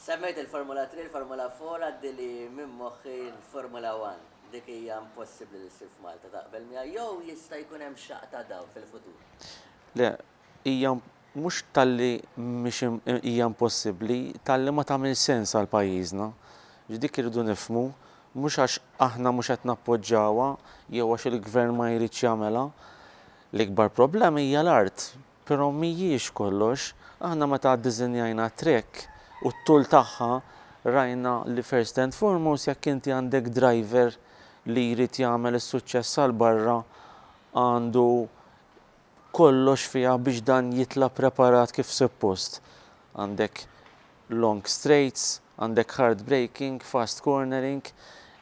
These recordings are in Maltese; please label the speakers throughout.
Speaker 1: Semmejt il-Formula Three, il-Formula Four, għaddi li minn moħħi l-Formula One. Dik hija impossibbli li ssir f'Malta, taqbel miegħi, jew jista' jkun hemm xaqq ta' dawl fil-futur? Le,
Speaker 2: hija mhux talli mhix hija impossibbli, talli ma tagħmilx sens għal pajjiżna. Dik irridu nifhmu, mhux għax aħna mhux qed nappoġġawha jew għax il-Gvern ma jridx jagħmilha. L-ikbar problema hija l-art. Però mhijiex kollox. Aħna meta ddiżinjajna t-track u t-tul tagħha rajna li first and foremost jekk inti għandek driver li jrid jagħmel is-suċċess għal barra għandu kollox fiha biex dan jitla' preparat kif suppost. Għandek long straights, għandek hard braking, fast cornering,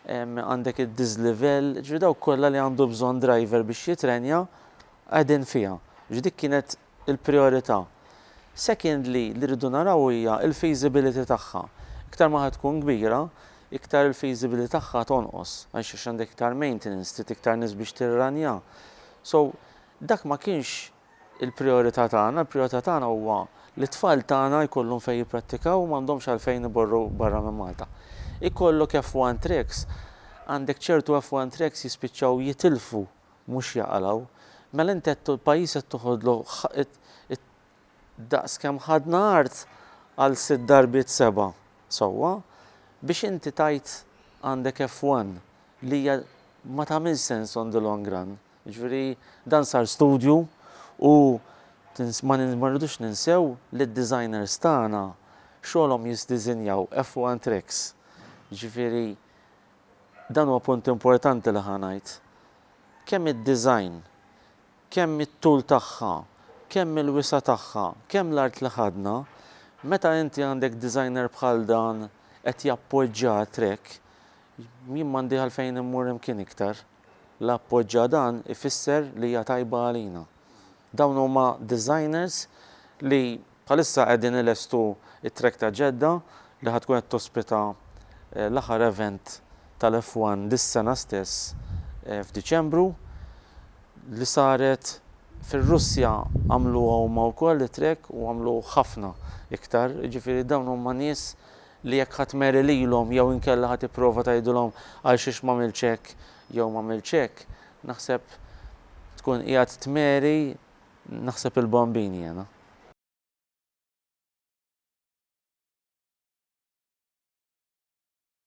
Speaker 2: għandek id-dislevel, jiġifieri dawk kollha li għandu bżonn driver biex jitrenja. qegħdin fiha, biex dik kienet il-prijorità. Secondly, li rridu naraw hija l-feasibility tagħha. Iktar ma ħa tkun kbira, iktar il-feasibility tagħha tonqos, għax għax għandek iktar maintenance, trid iktar nies biex tirranjha. So, dak ma kienx il-prijorità tagħna, il-prijorità tagħna huwa li t-tfal tagħna jkollhom fejn jipprattikaw u m'għandhomx għalfejn imorru barra minn Malta. Ikollok F1 tracks, għandek ċertu F1 tracks jispiċċaw jitilfu mhux jaqalgħu, mela inti qed il-pajjiż qed toħodlu daqs kemm ħadna art għal sitt darbiet seba' sewwa biex inti tgħid għandek F1 li hija ma tagħmilx sens on the long run. Jiġifieri dan sar studju u ma rridux ninsew li d-designers tagħna xogħolhom jisdiżinjaw F1 tracks. Jiġifieri Dan huwa punt importanti li ħa ngħid. Kemm id-design, kemm it-tul tagħha, kemm il-wisa' tagħha, kemm l-art li ħadna, meta inti għandek designer bħal dan qed jappoġġa trek, jien m'għandi għalfejn immur imkien iktar. L-appoġġa dan ifisser li hija tajba għalina. Dawn huma designers li bħalissa qegħdin ilestu t-track ta' Jeddah li ħa tkun qed tospita l-aħħar event tal-F1 dis-sena stess f'Diċembru. Li saret fir-Russja għamluha huma wkoll it-track u għamlu ħafna iktar. Jiġifieri dawn huma nies li jekk ħa tmeri lilhom jew inkella ħa tipprova tgħidilhom għalxiex m'għamiltx hekk jew m'għamiltx hekk, Naħseb tkun qiegħed tmeri naħseb il-bombini jiena.